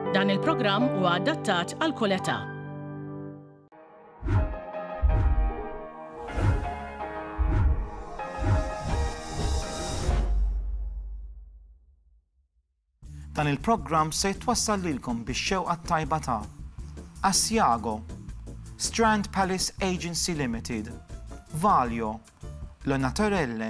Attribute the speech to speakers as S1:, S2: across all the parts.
S1: Dan il-programm huwa adattat għal kull età.
S2: Dan il-programm se jitwassal lilkom bix-xewqa tajba ta' Asiago, Strand Palace Agency Limited, Valio, Lonatorelle,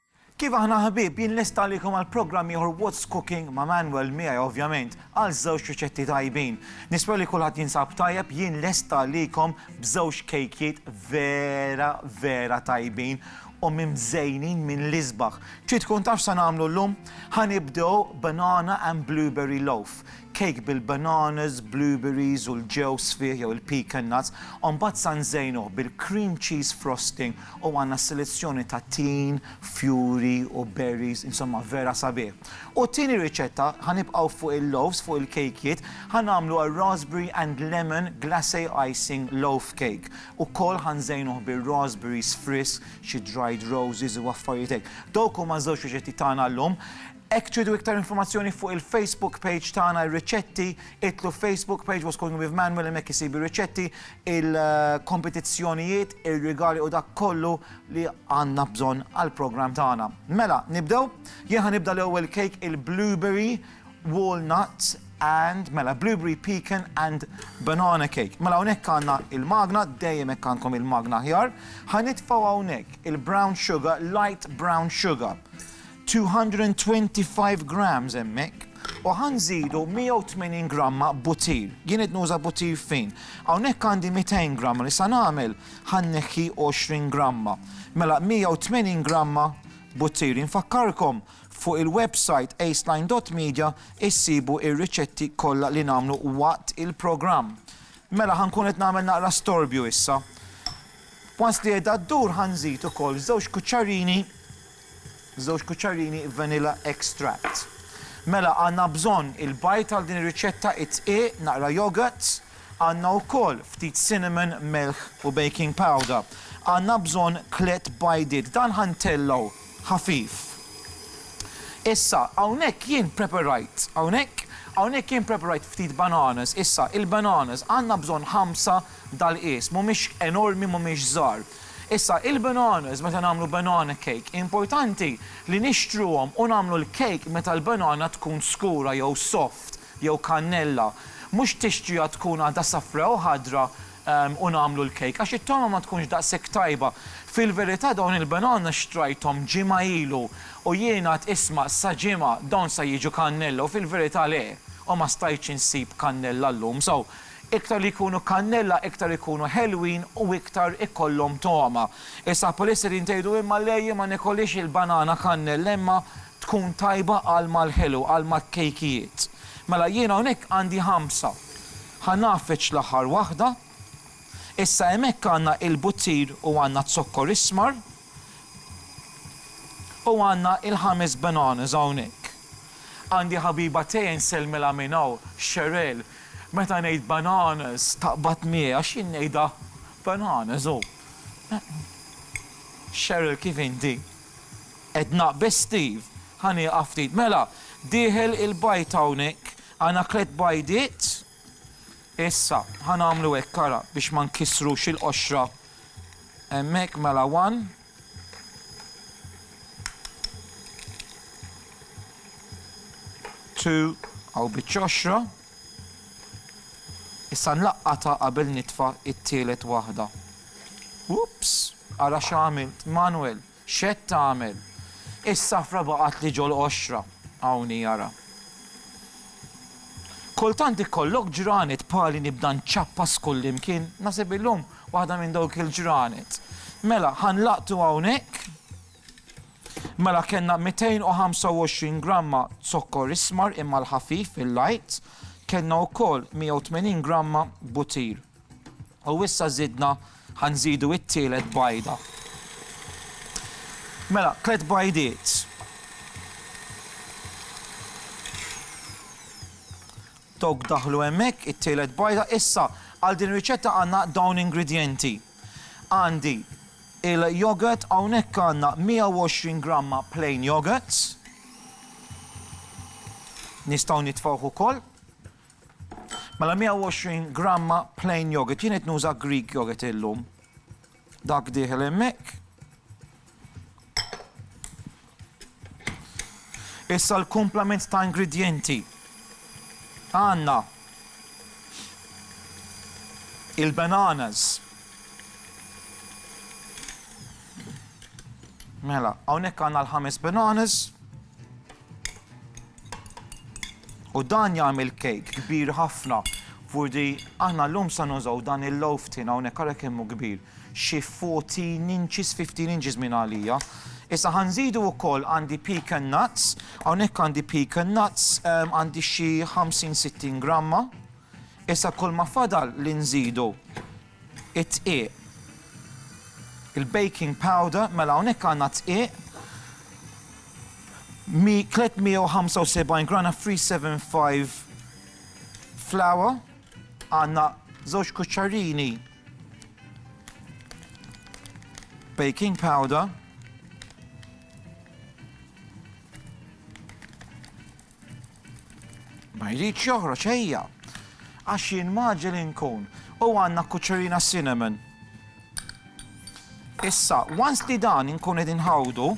S2: Kif aħna ħbieb, jien lest għalikom għal programm ieħor What's Cooking ma' Manuel, miegħi ovvjament, għal żewġ riċetti tajbin. Nispera li kulħadd jinsab tajjeb, jien lest għalikom b'żewġ kejkjiet vera, vera tajbin u mimżejnin mill-isbaħ. Trid tkun taf x'se nagħmlu llum? Ħa nibdew banana and blueberry loaf, kejk bil-bananas, blueberries u l-ġewż fih jew il-pecan nuts, u mbagħad sa nżejnuh bil-cream cheese frosting U għandna s-selezzjoni ta' tin, fjuri u berries, insomma vera sabiħ. U t-tieni riċetta, ħa nibqgħu fuq il-loaves, fuq il-kejkiet, ħa nagħmlu a raspberry and lemon glacé icing loaf cake. Ukoll ħa nżejnuh bir-raspberries frisk, xi dried roses u affarijiet hekk. Dawk huma ż-żewġ riċetti tagħna llum. Hekk tridu iktar informazzjoni fuq il-Facebook page tagħna r-riċetti, idħlu Facebook page What's Going with Manuel hemmhekk isib ir-riċetti, il-kompetizzjonijiet, ir-rigali u dak kollu li għandna bżonn għall-programm tagħna. Mela, nibdew? Jien ħa nibda l-ewwel cake il-blueberry walnuts and mela blueberry pecan and banana cake. Mela hawnhekk għandna il-magna, dejjem hekk għandkom il-magna ħjar. Ħanitfgħu hawnhekk il-brown sugar, light brown sugar. 225 grams hemmhekk u ħa nżidu 180 gramma butir. Jien qed nuża butir fin. Hawnhekk għandi 200 gramma li sa nagħmel ħa nneħħi 20 gramma. Mela 180 gramma butir. Infakkarkom fuq il-website aceline.media issibu ir-riċetti kollha li nagħmlu waqt il-programm. Mela ħa nkun qed nagħmel naqra storbju issa. Once li qiegħda ddur ħa nżid ukoll żewġ kuċċarini Żewġ kuċċarini vanilla extract. Mela għandna bżonn il-bajd għal din ir-riċetta, id-dqiq, naqra yogurt, għandna wkoll ftit cinnamon, melħ u baking powder. Għandna bżonn tliet bajdiet. Dan ħa ntellgħu ħafif. Issa hawnhekk jien preparajt, hawnhekk, hawnhekk jien preparajt ftit bananas. Issa il-bananas għandna bżonn ħamsa dal-qies. Mhumiex enormi, mhumiex żgħar. Issa, il-bananas, meta nagħmlu banana cake, importanti li nixtruhom u nagħmlu l-cake meta l-banana tkun skura jew soft jew kannella. Mhux tixtriha tkun għadha safra u ħadra u nagħmlu l-cake għax it-togħma ma tkunx daqshekk tajba. Fil-verità dawn il-bananas xtrajthom ġimgħa ilu u jien għad isma' sa ġimgħa dawn sa jiġu kannella u fil-verità le u ma stajtx insib kannella llum so Iktar li jkunu kannella iktar ikunu ħelwin u iktar ikollhom togħma. Issa Polistirin tgħidu imma le jien ma nikolhiex il-banana kannella imma tkun tajba għal mal-ħelu, għal mat-kejkijiet. Mela jien hawnhekk għandi ħamsa. Ħa ngħaffeġ l-aħħar waħda. Issa hemm hekk għandna il-buttir u għandna z-zokkor ismar. U għandna il-ħames bananas hawnhekk. Għandi ħabiba tiegħi nsellmilha minn hawn, Cheryl, meta ngħid bananas taqbad miegħi għax jien ngħidha bananas u Cheryl kif inti? Edna, biss Steve, ħa nieqaf ftit. Mela, dieħel il-bajd hawnhekk, għandna tliet bajdiet. Issa, ħa nagħmlu hekk, ara, biex ma nkissrux il-qoxra hemmhekk, mela one. Two, hawn biċ-ċoxra. Issa nlaqqatha qabel nitfa' t-tielet waħda. Oops! Ara x'għamilt, Manwel! X'qed tagħmel? Is-safra baqgħatli ġol-qoxra, hawn hi ara. Kultant ikollok ġranet bħali nibda nċappas kullimkien, naħseb illum waħda minn dawk il-ġranet. Mela, ħa nlaqtu hawnhekk. Mela kellna 225 gramma zokkor ismar imma l-ħafif, il-light, kellna wkoll 180 gramma butir. U issa żidna, ħa nżidu it-tielet bajda. Mela, tliet bajdiet. Dawk daħlu hemmhekk, it-tielet bajda. Issa, għal din ir-riċetta għandna dawn ingredjenti. Għandi il-yogurt, hawnhekk għandna 120 gramma plain yogurt. Nistgħu nitfgħuh ukoll. Mela 120 gramma plain yogurt. Jien qed nuża Greek yogurt illum. Dak dieħel hemmhekk. Issa l-kumplament ta' ingredienti. Għanna il-bananas. Mela, hawnhekk għandna l-ħames bananas. U dan jagħmel kejk kbir ħafna. Furdi, aħna l-lum sa nużaw dan il-loaf tin hawnhekk ara kemm hu kbir. Xi 14 inches, 15 inches minn għalija. Issa ħanżidu wkoll għandi pecan nuts, hawnhekk għandi pecan nuts ehm, għandi xi 50-60 gramma. Issa kull ma fadal li nżidu Id-dqiq. Il-baking powder, mela hawnhekk għandna d-dqiq, 375 gr of 375 flour, għandna żewġ kuċċarini baking powder, Ma jridx joħroġ ejja. Għax jien maġel inkun. U għandna kuċċerina cinnamon. Issa, once li dan inkun qed inħawdu,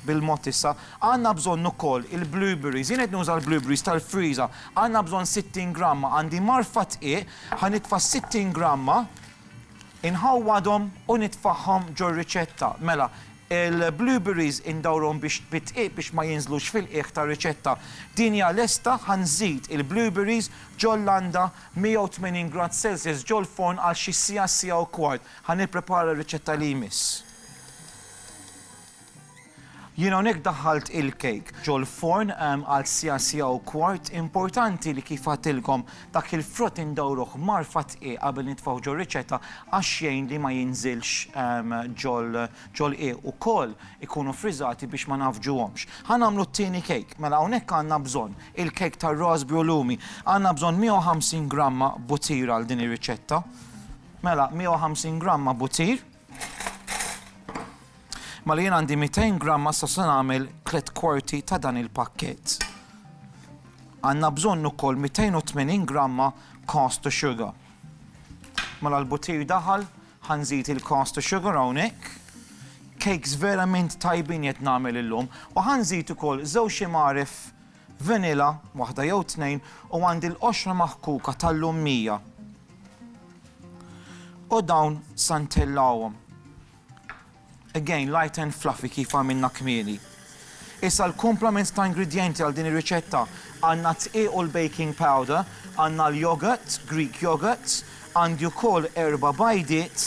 S2: bil-mod issa, għandna bżonn ukoll il-blueberries, jien qed nuża l-blueberries tal-friża, għandna bżonn 60 gramma, għandi marfa tqiegħ, ħa nitfa' 60 gramma, Inħawwadhom u nitfagħhom ġor-riċetta. Mela, il-blueberries indawrhom biex bid-dqiq biex ma jinżlux fil-qiegħ tar-riċetta. Din hija lesta, ħa nżid il-blueberries ġol-landa 180 grad Celsius ġol-forn għal xi siegħa, siegħa u kwart. Ħa nipprepara r-riċetta li jmiss. Jien hawnhekk daħħalt il-cake ġol-forn għal siegħa siegħa u kwart, importanti li kif għadtilkom dak il-frott indawruh mgħarfa dqiq qabel nitfgħuh ġor-riċetta għax jgħin li ma jinżilx ġol-qiegħ ukoll ikunu friżati biex ma ngħaffġuhomx. Ħa nagħmlu t-tieni cake, mela hawnhekk għandna bżonn il-cake tar-raspberry u lumi, għandna bżonn 150 gramma butir għal din ir-riċetta, mela 150 gramma butir, Mela jien għandi 200 gram ma se nagħmel tliet kwarti ta' dan il-pakkett. Għandna bżonn ukoll 280 gramma cost to sugar. Mela l-butir daħal, ħanżid il-cost to sugar hawnhekk. Cakes verament tajbin qed nagħmel illum u ħanżid ukoll żewġ imaref Vanilla, waħda jew tnejn, u għandi l-qoxra maħkuka tal-lummija. U dawn sa ntellgħuhom. Again, light and fluffy kif għamilna kmieni. Issa l-kumplament ta' ingredjenti għal din ir-riċetta għandna t-dqiq u l-baking powder, għandna l-yogurt, Greek yogurt, għandi wkoll erba' bajdiet,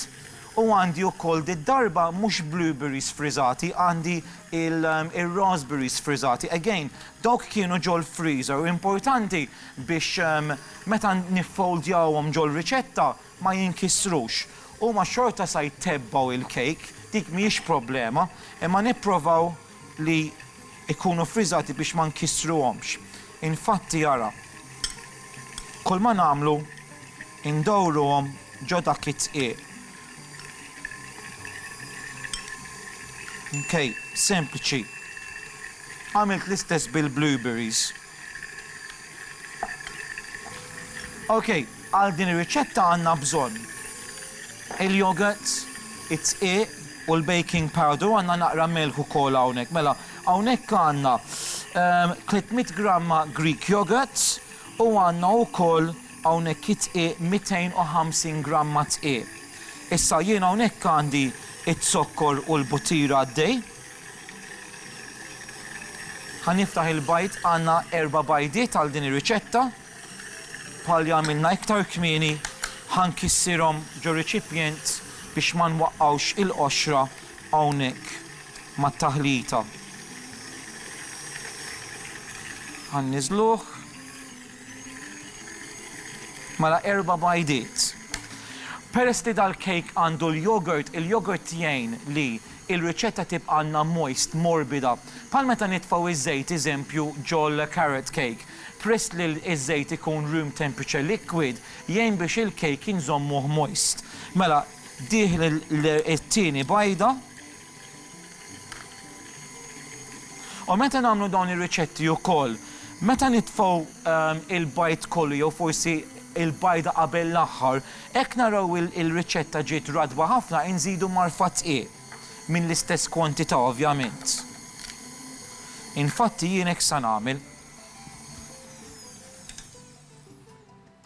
S2: U għandi ukoll did-darba mhux blueberries friżati għandi il-raspberries friżati. Again, dawk kienu ġol-freezer u importanti biex meta niffoldjawhom ġol-riċetta ma jinkisrux. Huma xorta sa jtebbgħu il-cake, dik mhijiex problema, imma nipprovaw li jkunu ffriżati biex ma nkissruhomx. Infatti ara, kulma nagħmlu ndawruhom ġo dak it-tqiegħ. Mkejl sempliċi. Għamilt l-istess bil-blueberries. Ok, għal din ir-riċetta għandna bżonn il-yogurt, id-dqiq u l-baking powder u għandna naqra milħ ukoll hawnhekk. Mela, hawnhekk għandna 300 gramma Greek yogurt u għandna wkoll hawnhekk id-dqiq 250 gramma dqiq. Issa jien hawnhekk għandi z-zokkor u l-butira għaddej. Ħa niftaħ il-bajd, għandna erba' bajdiet għal din ir-riċetta. Bħal li għamilna iktar kmieni, ħa nkissirhom ġor-riċipjent biex ma nwaqqgħux il-qoxra hawnhekk mat-taħlita. Ħa nniżluh. Mela erba' bajdiet. Peress li dal-kejk għandu l-yogurt, il-yogurt jgħin li Il-riċetta tibqa' għandna moist, morbida, bħal meta nitfgħu ż-żejt eżempju ġol-carrot cake. Peress li ż-żejt ikun room temperature liquid, jgħin biex il-cake inżommuh moist. Mela, dih it-tieni bajda. U meta nagħmlu dawn ir-riċetti wkoll, meta nitfgħu il-bajd kollu jew forsi il-bajda qabel l-aħħar, Hekk naraw il-riċetta ġiet ratba ħafna inżidu marfa dqiq minn l-istess kwantità ovvjament. Infatti jien hekk sa nagħmel.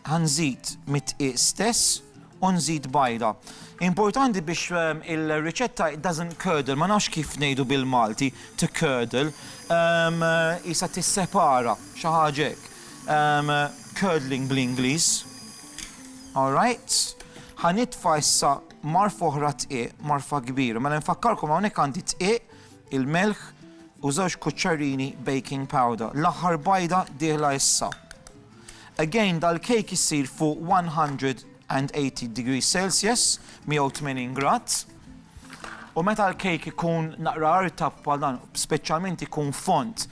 S2: Ħa nżid mid-dqiq stess u nżid bajda. Importanti biex il-riċetta it doesn't curdle, ma nafx kif ngħidu bil-Malti, to curdle, qisha tissepara, xi ħaġa hekk. curdling bl-Ingliż. All right. Ħa nitfa' issa marfa oħra tqiq, marfa kbira. Mela nfakkarkom hawnhekk għandi tqiq, il-melħ u żewġ kuċċarini baking powder. L-aħħar bajda dieħla issa. Again, dal-kejk issir fuq 180 degrees Celsius, 180 grad. U meta l-kejk ikun naqra artab bħal dan, speċjalment ikun fond,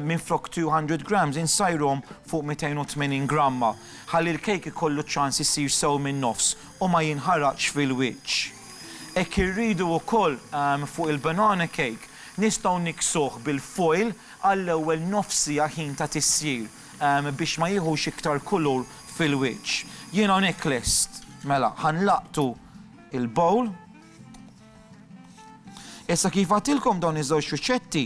S2: minflok 200 grams insajrhom fuq 280 gramma ħalli l-kejk ikollu ċ-ċans isir sew min-nofs u ma jinħaraqx fil-wiċċ. Hekk irridu wkoll fuq il-banana cake, nistgħu niksuh bil-foil għall-ewwel nofs siegħa ħin ta' tisjir biex ma jieħux iktar kulur fil-wiċċ. Jien hawnhekk lest. Mela, ħa nlaqqtu il-bowl. Issa kif għatilkom dawn iż-żewġ riċetti,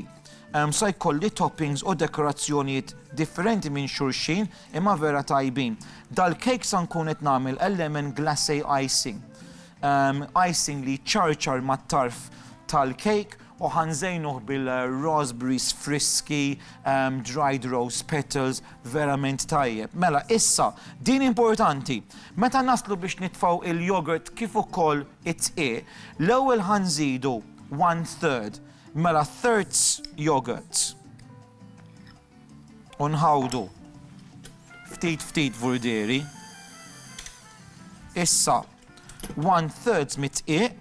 S2: ehm, sa jkolli toppings u dekorazzjonijiet differenti minn xulxin imma vera tajbin. Dal-kejk sa nkun qed nagħmel lemon glacé icing. Ehm, icing li ċarċar mat-tarf tal-kejk u ħanżejnuh bil-raspberries friski, ehm, dried rose petals, Verament tajjeb. Mela, issa, din importanti. Meta naslu biex nitfgħu il-yogurt kif ukoll it-dqiq, l-ewwel ħa nżidu one third. Mela thirds yogurt. U nħawdu. Ftit ftit vurdieri. Issa, one thirds mit-dqiq.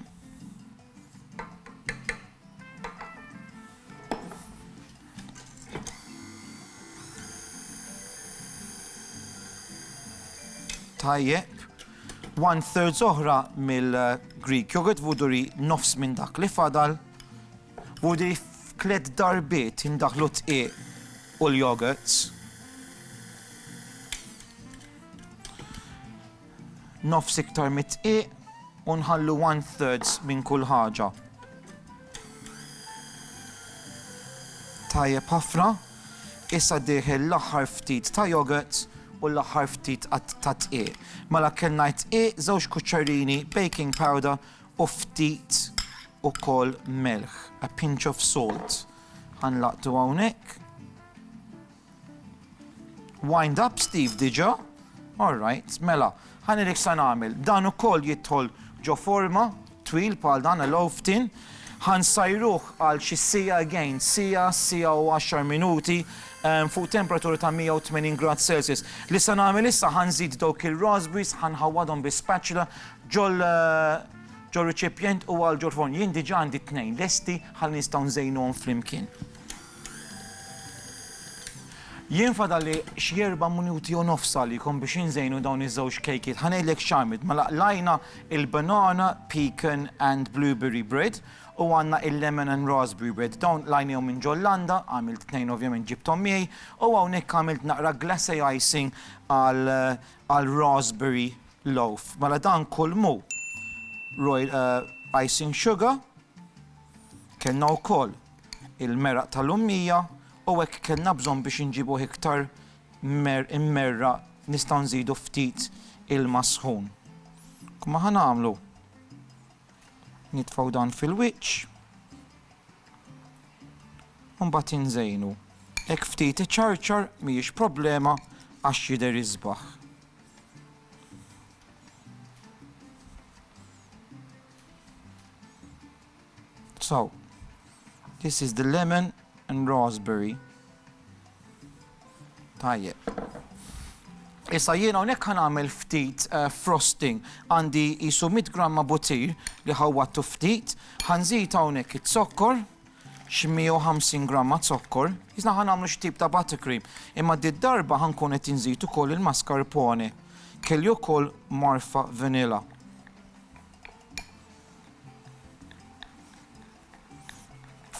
S2: Tajjeb, one third oħra mill-Greek yogurt, vuduri nofs minn dak li fadal, vuduri f'klet darbiet indaħlu t u l-yogurts. nofs iktar mid-dqiq u nħallu one thirds minn kull ħaġa. Tajjeb ħafna, issa dieħel l-aħħar ftit ta' yogurt u l-aħħar ftit ta' dqiq. Mela kellna dqiq, żewġ kuċċarini baking powder u ftit ukoll melħ, a pinch of salt. Ħanlaqtu hawnhekk. Wind up Steve diġa? All right, mela, ħa nilek sa nagħmel. Dan ukoll jidħol ġo forma twil bħal dan l oftin Ħan sajruh għal xi sija again, sija, sija u 10 minuti ehm, fuq temperatura ta' 180 grad Celsius. Li sa nagħmel issa ħan żid dawk il-raspberries, ħan ħawadhom bi spatula ġol eh, ġol riċipjent u għal ġol forn. Jien diġa għandi tnejn lesti ħalli nistgħu nżejnuhom flimkien. Jien fadalli xi erba' minuti u nofs għalikom biex inżejnu dawn iż-żewġ kejkiet. Ħa ngħidlek x'għamilt, mela qlajna il-banana, pecan and blueberry bread u għandna il-lemon and raspberry bread. Dawn qlajnihom minn ġol landa, għamilt tnejn ovvjament ġibthom miegħi u hawnhekk għamilt naqra glacé icing għal għal raspberry loaf. Mela dan kulmu roy icing sugar. Kellna wkoll il-meraq tal-ummija u hekk kellna bżonn biex inġibuh iktar immerraq nistgħu nżidu ftit ilma sħun. Kumma ħa nagħmlu? Nitfgħu dan fil-wiċċ u mbagħad inżejnu. Hekk ftit iċarċar mhijiex problema għax jidher isbaħ. So, this is the lemon and raspberry. Tajjeb. Issa jiena hawnhekk ħan għamil ftit eh, frosting għandi jisu 100 gramma butir li ħawwattu ftit, ħanżid hawnhekk it-zokkor, 150 gramma zokkor, jisna ħan għamlu xtib ta' buttercream, imma di darba ħankun qed inżid ukoll il-mascarpone, kelli ukoll marfa vanilla.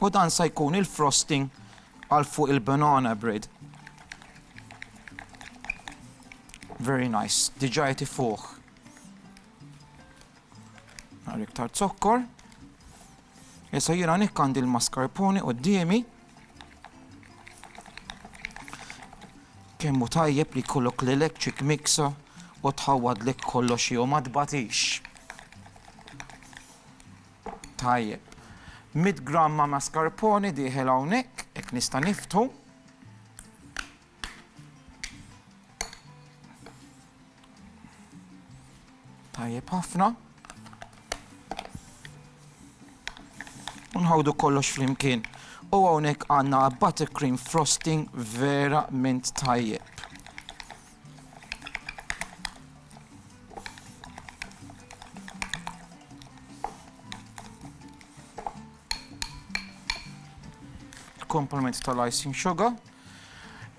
S2: U dan sa jkun il-frosting għal fuq il-banana bread. Very nice, diġa jti fuq. Għar iktar zokkor. Issa jira nikkan dil-mascarpone u d-diemi. Kemm hu tajjeb li jkollok lilek ċik miksa u tħawwadlek kollox jew ma tbatix. Tajjeb. 100 gramma mascarpone dieħel hawnhekk, hekk nista' niftu. Tajjeb ħafna. Unħawdu kollox flimkien. U hawnhekk għandna buttercream frosting vera mint tajjeb. Il-komponent tal-icing sugar.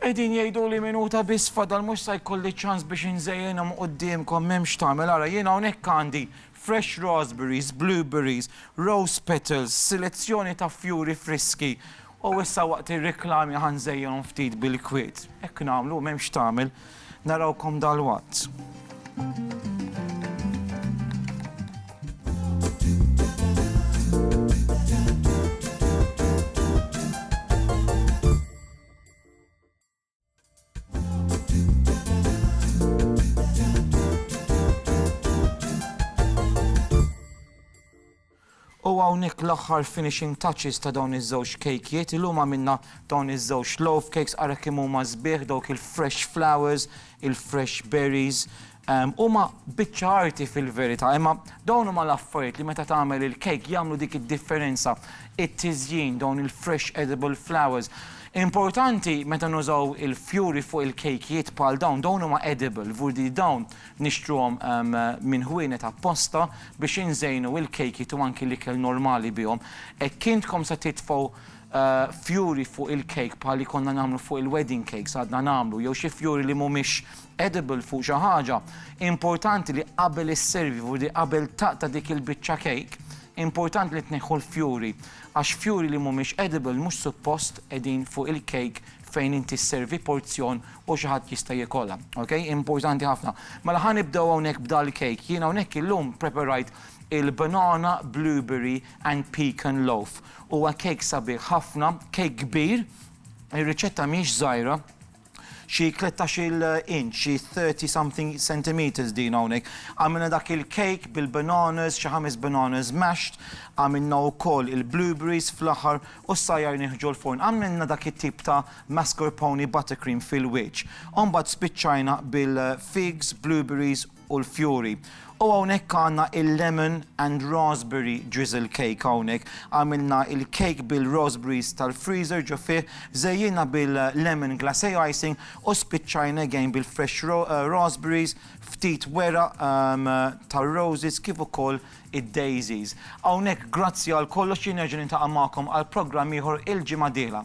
S2: Qegħdin jgħidu li minuta biss fadal mhux sa jkolli ċans biex inżejjenhom quddiemkom m'hemmx tagħmel ara jien hawnhekk għandi fresh raspberries, blueberries, rose petals, selezzjoni ta' fjuri friski U issa waqt ir-reklami ħa nżejjinhom ftit bil-kwiet. Hekk nagħmlu, m'hemm x'tagħmel. Narawkom dalwaqt. U hawnhekk l-aħħar finishing touches ta' dawn iż-żewġ kejkjiet. Illum għamilna dawn iż-żewġ loaf cakes, ara kemm huma sbieħ dawk il-fresh flowers, il-fresh berries, Huma biċċa arti fil-verità, imma dawn huma l-affarijiet li meta tagħmel il-kejk jagħmlu dik id-differenza, it-tiżjin, dawn il-fresh edible flowers. Importanti meta nużaw il-fjuri fuq il-kejkijiet bħal dawn, dawn huma edible, vu li dawn nixtruhom minn ħwienet apposta biex inżejnu il-kejkijiet u anki l-ikel normali bihom. Hekk intkom se titfgħu fjuri fuq il-kejk bħal li konna nagħmlu fuq il-wedding cakes, għadna nagħmlu, jew xi fjuri li mhumiex edible fuq xi ħaġa, importanti li qabel isservi u li qabel taqta' dik il-biċċa cake, importanti li tneħħu l-fjuri, għax fjuri li mhumiex edible mhux suppost qegħdin fuq il-cake fejn inti sservi porzjon u xi ħadd jista' jikolha. Ok? Importanti ħafna. Mela ħa nibdew hawnhekk b'dal-cake. Jiena hawnhekk illum ppreperajt il-banana, blueberry and pecan loaf. Huwa cake sabiħ ħafna, cake kbir, ir-riċetta mhijiex żgħira, xi tlettax-il inch, xi thirty something centimetres din hawnhekk. Għamilna dak il-cake bil-bananas, xi ħames bananas mashed, għamilna wkoll il-blueberries fl-aħħar u s-sajjar nieħġu l-forn. Għamilna dak it-tip ta' mascarpone buttercream fil-wiċċ. U mbagħad spiċċajna bil-figs, blueberries, u l-fjuri. U hawnhekk għandna il-lemon and raspberry drizzle cake hawnhekk. Għamilna il-cake bil-raspberries tal-freezer ġo fih, żejjinha bil-lemon glacé icing u spiċċajna again bil-fresh raspberries, ftit weraq tar-roses kif ukoll id-daisies. Hawnhekk grazzi għal kollox jien nerġa' niltaqa' magħkom għal programm ieħor il-ġimgħa d-dieħla.